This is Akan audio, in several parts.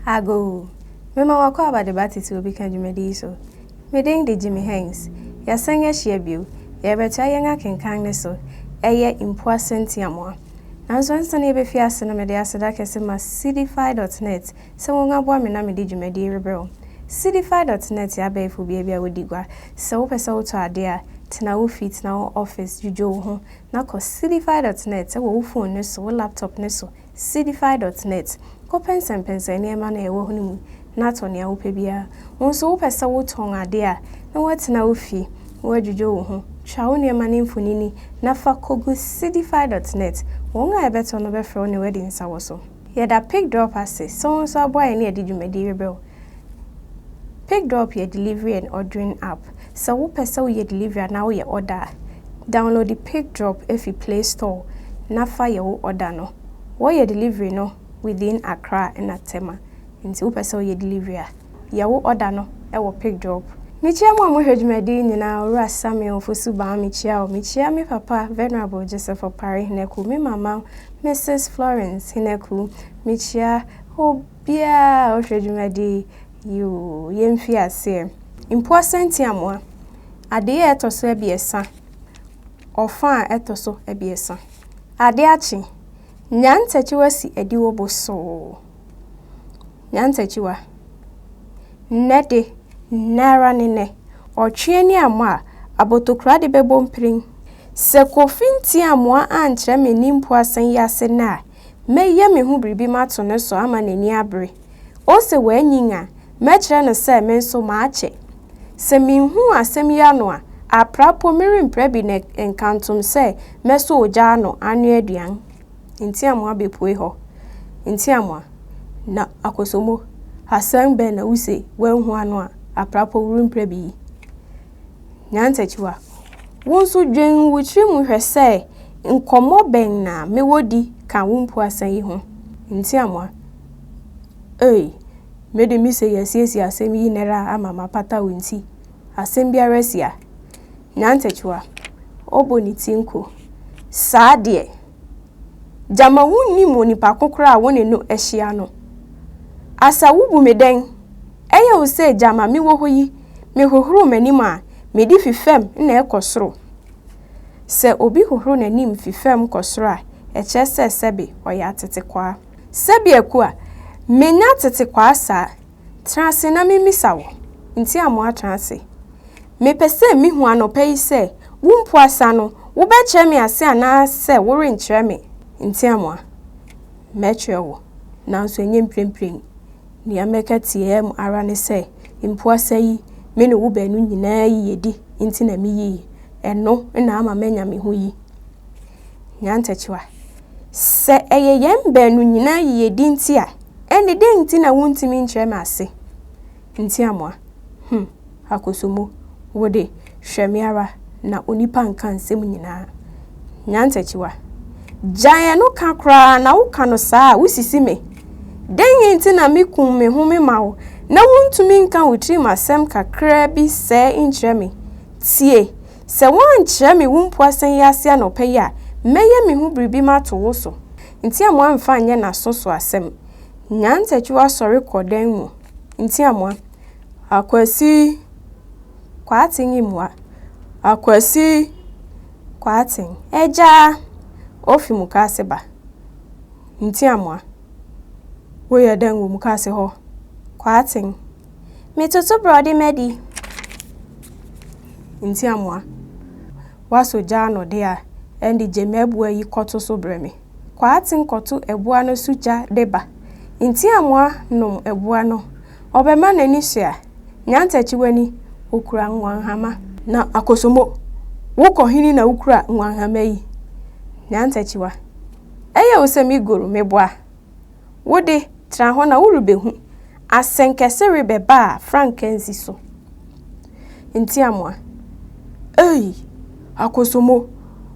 Agoo! Mema w'akwaaba de ba titiriw bi ka dwumadi yi so. Me din de Jimmy Heinz. Yɛasan ahyia bio. Yɛrebɛtoa yɛn akenkan no so. Ɛyɛ Mpoa Sentiamoa. Nanso ansa na yɛbɛfi ase no mede aseda kɛse ma Seedify dot net sɛ wɔn aboa me na mede dwumadi yi rebrɛ wo. Seedify dot net yɛ abɛɛfo beabi a wodi gua. Sɛ wopɛ sɛ wotɔ ade a, tena wo fi, tena wo office, dwudwo wo ho, na kɔ Cdfy dot net wɔ wo fon no so, wo laptop no so, Cdfy dot net. Kɔpɛnsɛmpɛnsɛn nneɛma no a ɛwɔ hɔ no mu na tɔ nea wopɛ biara. Wo nso wopɛ sɛ wotɔn ade a, na woatena wo fie, na woadwudwo wo ho. Twa wo nneɛma no mfonini na fa kogu Cdfy dot net. Wɔn a ɛbɛtɔ no bɛfrɛ wo na wɔadi nsawɔso. Yɛda PigDrop ase sɛ wo nso aboa yɛn na yɛde dwumadi rebrɛ wo. PigDrop yɛ delivery and ordering app. Sɛ wopɛ sɛ woyɛ delivery anaa woyɛ order a, downloadi PigDrop fi Play Store na fa yɛ wo order no. Wɔyɛ delivery no within Accra na Tema, nti wopɛ sɛ woyɛ delivery a, yɛwo ɔda no wɔ Pic Drop. Mekyia mo a mohwɛ dwumadi yi nyinaa, Owura Samuel Ofosu-Bawah mekyia wo, mekyia me papa Venerable Joseph Opare Henaku, me mama Mrs Florence Henaku, mekyia obiara a ɔhwɛ dwumadi yi oo, yɛmfiri aseɛ. Mpoa-Sɛntiamoa, adeɛ a ɛtɔ so abiɛsa, ɔfa a ɛtɔ so abiɛsa. Adeɛ akye, Nyan Takyiwasi Adiwo Bosoo. Nyantakyiwa. Nnɛ de, nnɛ ara ne nnɛ, ɔtwe ani ammɔ a, abotokora de bɛbɔ mpirim. Sɛ Kofi Ntiamoa ankyerɛ me ne mpuasen yi ase nnɛ a, mɛyɛ me ho biribi mato no so ama n'ani abere. Ose wanyin a, mɛkyerɛ no sɛ me nso makyɛ. Sɛ minhuu asɛm yi ano a, apra mpo merempra bi na ɛnkantom sɛ mɛsɔ ogya ano anoa aduan. Ntiamoa bepue hɔ. Ntiamoa, Na Akosomo, asɛm bɛn na wuse woanhu ano a, aprapɔ worempira bi yi? Nyantakyiwa, Wo nso dwen wo tiri mu hwɛ sɛ nkɔmmɔ bɛn na mewɔ di ka wo mpuasa yi ho. Ntiamoa, Ei, me de mise yɛasiesie asɛm yi nnɛra ama mapata wo nti, asɛm biara si a, Nyantakyiwa, ɔbɔ ne ti nko. Saa deɛ, gyama wonnim onipa ko koraa a wo ne no ahyia no. Asa wobu me dɛn? Ɛyɛ wo sɛ gyama mewɔ hɔ yi mehohoro m'anim a, mede fi fam na ɛkɔ soro? Sɛ obi hohoro n'anim fi fam kɔ soro a, ɛkyerɛ sɛ sɛbe ɔyɛ atetekwaa. Sɛbe Akua, menya atetekwaa saa, Tena ase na memmisa wo. Nti a moatena ase? Mepɛ sɛ mihu anɔpa yi sɛ wo mpo asa no, wobɛkyerɛ me ase anaasɛ worenkyerɛ me nteamoa. Mɛkyerɛ wo, nanso ɛnyɛ mprempren. Nea mɛka tiaa mu ara ne sɛ, mpo asa yi, me ne wo baanu nyinaa yiyedi nti na miyii ɛno na ama manya me ho yi. Nyantakyiwa. Sɛ ɛyɛ yɛn baanu nyinaa yiyedi nti a, ɛnde dɛn nti na wuntumi nkyerɛ me ase? Ntiamoa. Hum, Akosombo, wo de, hwɛ me ara na onipa nka nsɛm nyinaa. Nyantakyiwa. Gyae ɛno ka koraa na woka no saa a, wusisi me. Dɛn nti na mikum me ho mema wo na wuntumi nka wo tirim asɛm kakraa bi sɛɛ nkyerɛ me? Tie! Sɛ woankyerɛ me wo mpuasen yi ase anɔpa yi a, mɛyɛ me ho biribi mato wo so. Ntiamoa amfa anyɛ n'aso so asɛm. Nyantakyiwa sɔre kɔ dan mu. Ntiamoa, Akwasi! Kwaaten yi mmoa. Akwasi! Kwaaten, Agya! Ofi mukaase ba. Ntiamoa, Woyɛ dɛn wɔ mukaase hɔ? Kwaaten. Metoto borɔde madi. Nti amoa. Woasɔ gya ano de a, ɛnde gye m'abua yi kɔto so brɛ me. Kwaaten kɔto abua no so gya de ba. Nti amoa nom abua no. Ɔbɛma n'ani so a, nya ntakyiwani, okura nguanhama. Na Akosomo, wo kɔ he na wokura nguanhama yi? Nya ntakyiwa. Ɛyɛ wo sɛ me goro, meboa? Wo de, tra hɔ na worebehu. Asɛnkɛse rebɛba a frankaa nsi so. Ntiamoa, Ei! Akosomo,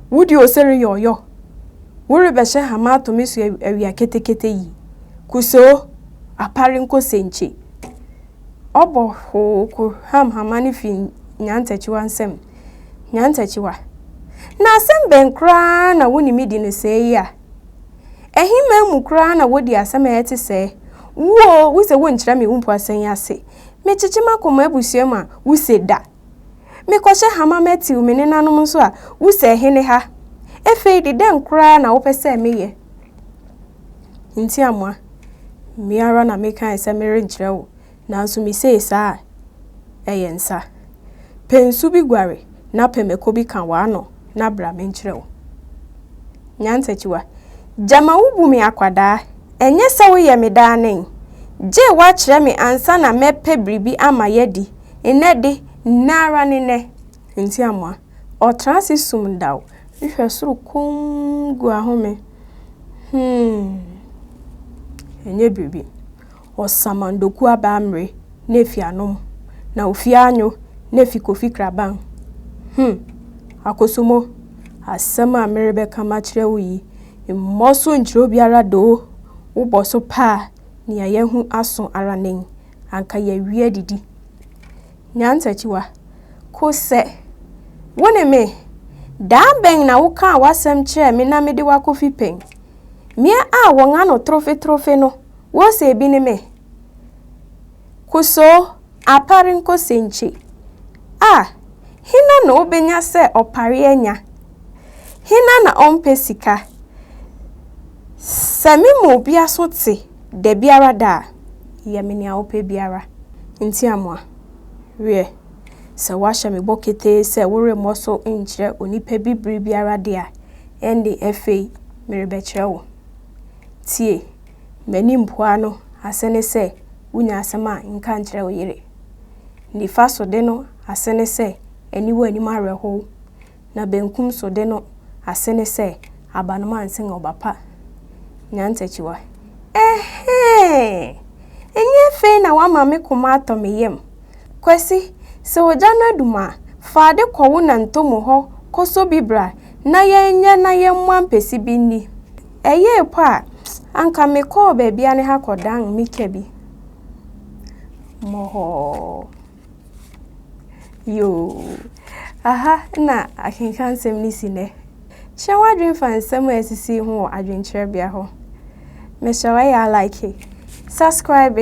wo de ose reyɛ ɔyɔ. Worebɛhyɛ hama ato me so awia ketekete yi. Kusoo, apare nkosenkye. Ɔbɔ hoo kohwam hama no fi Nyantakyiwa nsam. Nyantakyiwa, Na asɛm bɛn koraa na wo ne me di no sɛɛ yi a? Ɛhe man mu koraa na wodi asɛm a ɛte sɛɛ? Wu o, wuse wonkyerɛ me wo mpo asɛn yi ase. Mekyekye m'akɔ m'abusua mu a, wuse da. Mekɔhyɛ ha ma matiw me nenanom nso a, wuse ɛhe ne ha? Ɛfei de, dɛn koraa na wopɛ sɛ meyɛ? Ntiamoa, Me ara na mekae sɛ merenkyerɛ wo, Nanso misee saa a, ɛyɛ nsa. Pɛ nsu bi guare na pɛ mako bi ka w'ano na bra menkyerɛ wo. Nyansakyiwa, Gyama wubu me akwadaa, ɛnyɛ sɛ woyɛ me daa nen. Gye woakyerɛ me ansa na mɛpɛ biribi ama yɛadi, nnɛ de, nnɛ ara ne nnɛ. Ntiamoa, Ɔtra ase sum daw, hwɛ soro komm gu ahome. Humm, ɛnyɛ biribi. Ɔsaman Doku Abaa Mmere na efi anom na ofi anyo na efi Kofi Kraban. Hum! Akosomo, asɛm a merebɛka makyerɛ wo yi, mmɔ so nkyerɛ obiara doo, wobɔ so pɛ a, nea yɛahu aso ara nen, anka yɛawie adidi. Nyantakyiwa, Kosɛ, wo ne me? Daa bɛn na wokaa w'asɛm kyerɛɛ me na mede wo akɔfi pɛn? Me a wɔn ano trofe trofe no, Wose ebi ne me. Kusoo apare nkosenkye. Ah! Hena na obenya sɛ ɔpare anya? Hena na ɔmpɛ sika? Sɛ me mu obi aso te da biara da a, yɛ me nea wopɛ biara. Ntiamoa, Wiɛ, sɛ woahyɛ me bɔ ketee sɛ woremmɔ so nkyerɛ onipa bi bere biara de a, ɛnde afei merebɛkyerɛ wo. Tie! M'ani mpoa no ase ne sɛ wunya asɛm a nka nkyerɛ wo yere. Nifa so de no ase ne sɛ aniwa anim awerɛhow, na benkum so de no ase ne sɛ abanoma nsen ɔba pa. Nyantakyiwa. Ɛhɛɛ! Ɛnyɛ afei na woama me koma atɔ me yam? Kwasi, sɛ ogya no adum a, fa ade kɔ wo na Ntomo hɔ kɔsɔ bi bra na yɛnyɛ na yɛmmoa mpesi bi nni. Ɛyɛɛ mpo a, anka mekɔɔ baabi a ne ha kɔdan mika bi. Mɔhɔɔ. Yoo. Aha na akenka nsɛm no si nnɛ. Kyerɛ w'adwene fa nsɛm a ɛsisi ho wɔ adwenkyerɛbea hɔ. Mehyɛ wo ɛyɛ a like. Subscribe.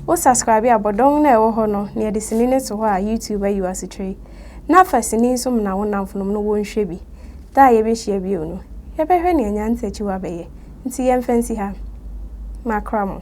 Wo subscribe a bɔdɔn no a ɛwɔ hɔ no na yɛde sini no to hɔ a YouTube ayi wo asekyerɛ yi. Na fa sini nso mena wo nnamfonom no wɔnhwɛ bi. Da a yebehyia bio no, yɛbɛhwɛ nea Nyansa Akyiwa bɛyɛ. Nti yɛmfa nsi ha. Makra mo.